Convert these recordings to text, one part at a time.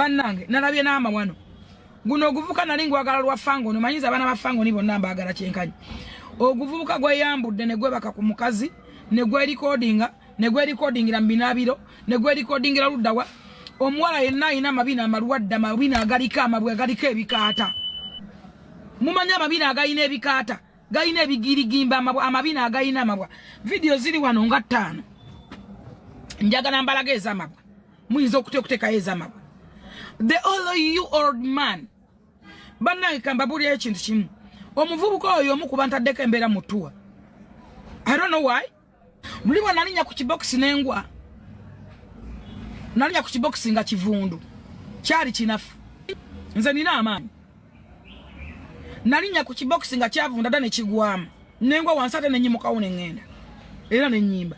banange nalabye n'amawano guno oguvuka nali ngwagala lwa fangoni omanyiza abaana ba fangoni bonna mbaagala kyenkanyi oguvubuka gweyambudde ne gwebaka ku mukazi ne gwerikodinga ne gwerikodingira mu binaabiro ne gwerikodingira luddawa omuwala yenna alina amabina amalwadde amabina agaliko amabwe agaliko ebikaata mumanyi amabina agalina ebikaata galina ebigirigimba amabwa amabina agalina amabwa vidiyo ziri wano nga ttaano njagala mbalaga ez'amabwa muyinza okutekutekayo ezamagwe the all you old man bannange kambabuulira ekintu kimu omuvubuka oyo omu kuba ntaddeko embeera mutuwa i don't know why muli bwe nalinya ku kibokisi nengwa nalinya ku kibokisi nga kivundu kyali kinafu nze nina amaanyi nalinya ku kibokisi nga kyavunda dda nekigwamu nengwa wansi ate nenyimukawo nengenda era nenyimba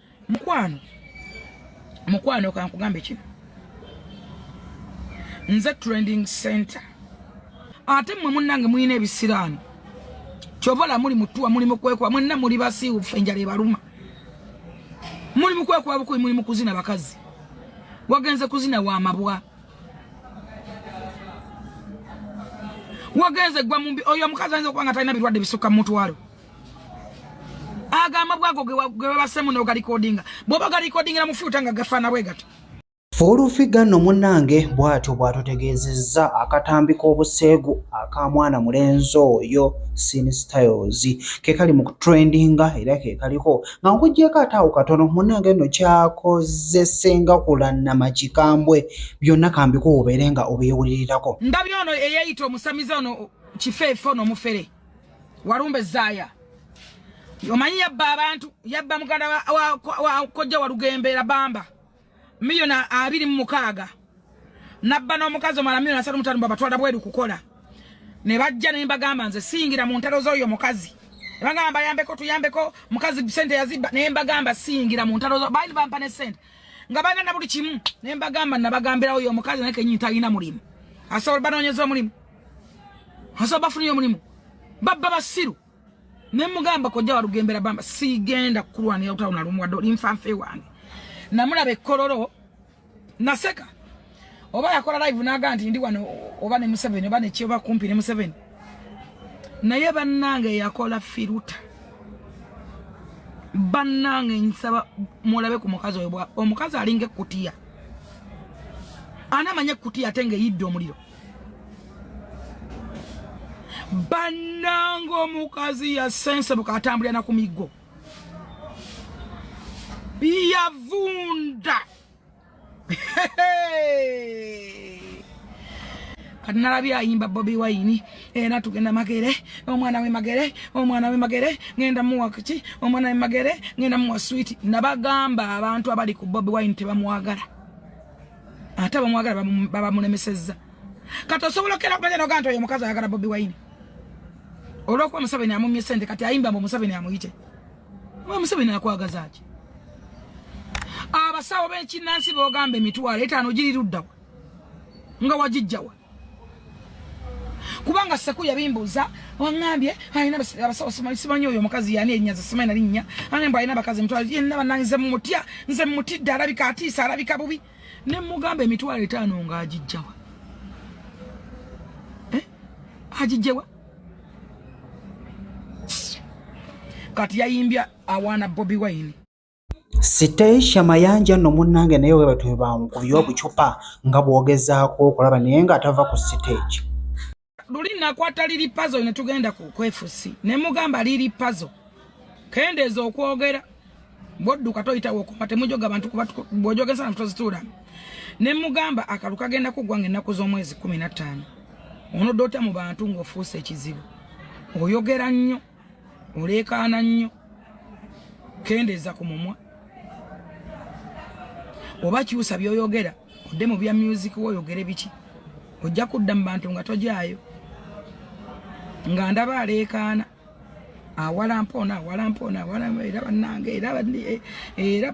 mukwano mukwano kankugambe kino nze trending center ate mwe munange mulina ebisiraani kyovola muli mutuwa muli mukwekuba mwenna muli basiiwufu enjala ebaluma muli mukwekuba bukubi muli mukuzina bakazi wagenze kuzina wa mabwa wagenze gwa mumbi oyo omukazi ayinza okuba nga talina birwadde bisukka mumutwalo aga amabwa ago ge babasemu n'ogalikodinga bwoba galikodingira mu fyuta nga gafaana bwe gato Fuulufiga no munange bw'atyo bw'atutegeezezza akatambi k'obuseegu aka mwana mulenzi oyo Sin Styles ke kali mu kutrendinga era ke kaliko nga nkuggyeko ate awo katono munange nno kyakozesenga kulannama kikambwe byonna kambiko obeere nga obyewulirirako. Ndabye ono eyeeyita omusamize ono kifeefe ono omufere. Walumbe Zaya. Omanyi yabba abantu, yabba muganda wa, wa, wa kojja walugembe la bamba. Miliona abiri mu mukaaga. Nabba n'omukazi omala miliona asatu mutano babatwala bweru kukola. Ne bajja ne mbagamba nze singira mu ntalo z'oyo mukazi. Bagamba bayambeko tuyambeko mukazi sente yazibba ne mbagamba singira mu ntalo z'oyo. Baali bampa ne sente. Nga bana na buli kimu ne mbagamba nabagambirawo oyo mukazi naye kenyinta alina mulimu. Asobola banoonyeza omulimu. Hasa bafu niyo mulimu. Baba basiru. Nemu gamba kwa jawa rugembera bamba. Si genda kuruwa ni ya utauna rumu wa dori mfanfe wangi. Na mula bekororo. Naseka. Oba ya kora live naga anti ndi wano. Oba ni museveni. Oba ni chi oba kumpi ni museveni. Na yeba nange ya kola firuta. Banange nsaba mwolabe kumukazo yobwa. Omukazo alinge kutia. Ana manye kutia tenge yido mulio. bannanga omukazi yasensebuka atambulira na ku miggo yavunda kati nalabye ayimba bobi wayini era eh, tugenda magere omwana we magere omwana we magere ngenda muwa kiki omwana we magere ngenda muwa switi nabagamba abantu abali ku bobi wayini tebamwagala ate abamwagala babamulemesezza kati osobola okera okumanya nogaa nti oyo omukazi ayagala bobi wine olwokuba museveni amumye sente kati ayimba mbu museveni amuyite oba museveni akwagazaki abasawo bekinansi bogamba emitwalo etaano giriruddawa nga wagijjawa kubanga seku yabimbuuza waŋambye alina abasawo simanyi oyo omukazi yani enyaza simanyi nalinnya ane mbu alina abakazi emitwalo yenna banange nze mumutya nze mumutidde alabika atiisa alabika bubi ne mugamba emitwalo etaano nga agijjawa eh? agijjewa kati yayimbya awaana bobi wine Sitecia Mayanja nno munnange naye weebatu be bankubye obucupa nga bw'ogezaako okulaba naye ng'atava ku siteegi. Luli nakwata liri pazo ne tugenda ku kwefusi ne mugamba liri pazo kendeeza okwogera bwodduka toyitawo okuma temujoga bantu kuba bwojogesa na tuzituula ne mugamba akalu kagenda kuggwa ng'ennaku z'omwezi kumi na ttaano onodota mu bantu ng'ofuuse ekizibu oyogera nnyo. oleekaana nnyo kendeeza ku mumwa oba kyusa byoyogera odde mu bya music woyogere biki ojja kudda mu bantu nga tojaayo nga ndaba aleekaana awalampa ono awalampa ono awalampa era bannange era eh, era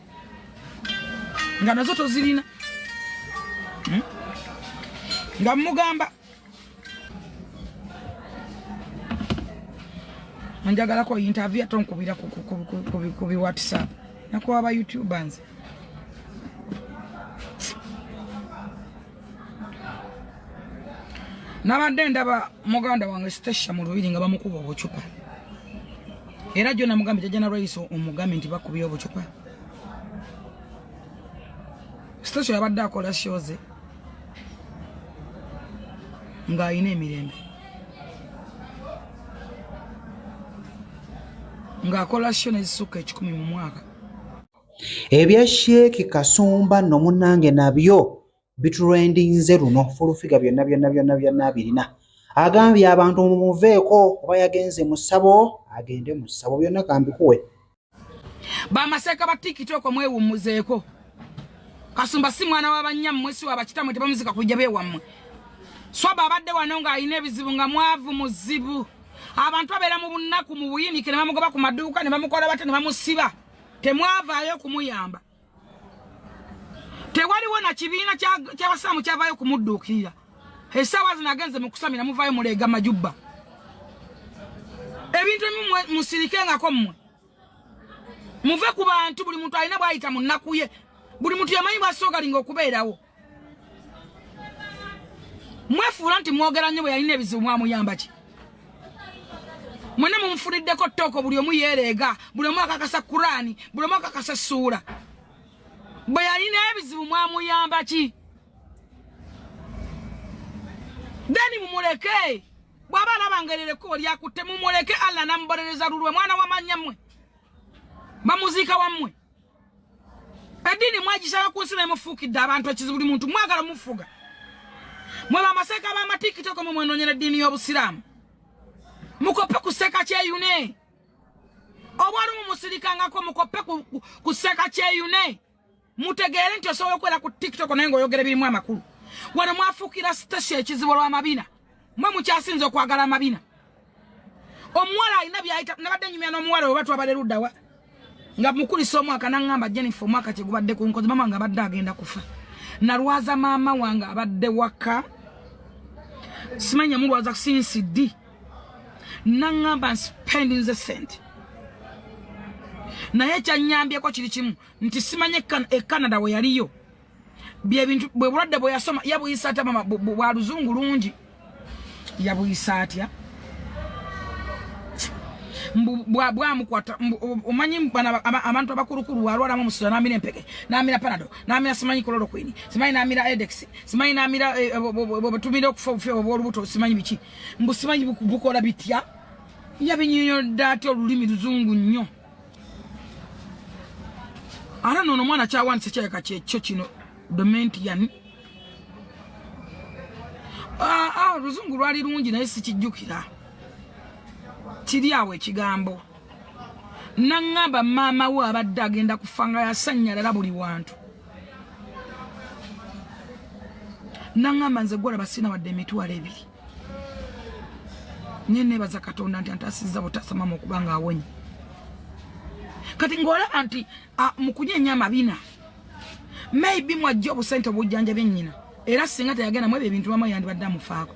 nga nazo tozirina hmm? nga mugamba anjagalako interview ate onkubira ku bi whatsapp nakuwa ba youtubers nabadde ndaba muganda wange stasha mu lubiri nga bamukuba obucupa era jona mugambe jajja nalwaiso omugambe nti bakubye obucupa stasha yabadde akola shoze ng'alina emirembe ng'akola sho nezisukka ekikumi mu mwaka Ebya Sheikh Kasumba no munange nabyo bitrendinze luno fulufiga byonna byonna byonna byonna abirina agambye abantu mumuveeko oba yagenze mu ssabo agende mu ssabo byonna kambikuwe bamaseeka ba tiktok mwewummuzeeko kasumba si mwana wa bannyammwe si wa bakitamwe tebamuzika kujja bewammwe swaba abadde wano ng'alina ebizibu nga mwavu muzibu abantu abeera mu bunnaku mu buyinike ne bamugoba ku maduuka ne bamukola bate ne bamusiba temwavaayo kumuyamba tewaliwo na kibiina kyabasiraamu kyavaayo kumudduukirira esaawa zino agenze mukusamira muvaayo muleega majubba ebintu ebimu musirikengako mmwe muve ku bantu buli muntu alina bwayita mu nnaku ye buli muntu yamanyi bwasoogalinga okubeerawo mwefuula nti mwogera nnyo bwe yalina ebizibu mwamuyamba ki mwena mumufuniddeko ttooko buli omu yeereega buli omu akakasa kuraani buli omu akakasa essuula bwe yalina ebizibu mwamuyamba ki deni mumuleke bwaba alabangerera ekkubo lyakutte mumuleke allah namubonereza lulwe mwana wamanya mmwe bamuziika wammwe edini mwagisala ku nsi nemufuukidde abantu ekizibu buli muntu mwagala mufuga mwe bamaseeka bamatikitoko mwe mwenonyera eddiini y'obusiraamu mukoppe ku sseeka kyeyune obwali mumusirikangako mukoppe ku sseeka kyeyune mutegeere nti osobola okubeera ku tiktok naye ngaoyogera ebirimu amakulu wano mwafuukira station ekizibu olw'amabina mwe mukyasinza okwagala amabina omuwala alina byayita nabadde nyumya n'omuwala we batwabala eruddawa nga mukulisa omwaka naŋŋamba jennifer omwaka kyegubadde ku nkozi maama nga abadde agenda kufa nalwaza maama wange abadde waka simanya mulwaza sinsi di naŋŋamba nsipendinze sente naye ekyanyambyeko kiri kimu nti simanya e canada we yaliyo byebintu bwe bulwadde bwe yasoma yabuyisa atya mama bwa luzungu lungi yabuyisa atya bwamukwata omanyi abantu abakulukulu walwalamu omusula namira empeke namira panado namira simanyi kololokwini simanyi namira edex simanyi namira eh, eh, bwetumira okufa obufi obwolubuto simanyi biki mbu simanyi bukola bitya yabinyonyodde atya olulimi luzungu nnyo ate nono omwana kyawandisa kyayaka kyekyo kino domentian ah, ah, oluzungu lwali lungi naye sikijjukira kiri awo ekigambo naŋŋamba maama we abadde agenda kufa nga yasanyalala buli wantu naŋŋamba nze gwolaba sina wadde emitwalo ebiri nye nebaza katonda nti antasiza butasama mukuba nga awonye kati ngolaba nti mukunyenya amabina maybe mwajja obusente obujjanja byenyina era singa teyagenda mwebyo ebintu bamwe yandibadde amufaako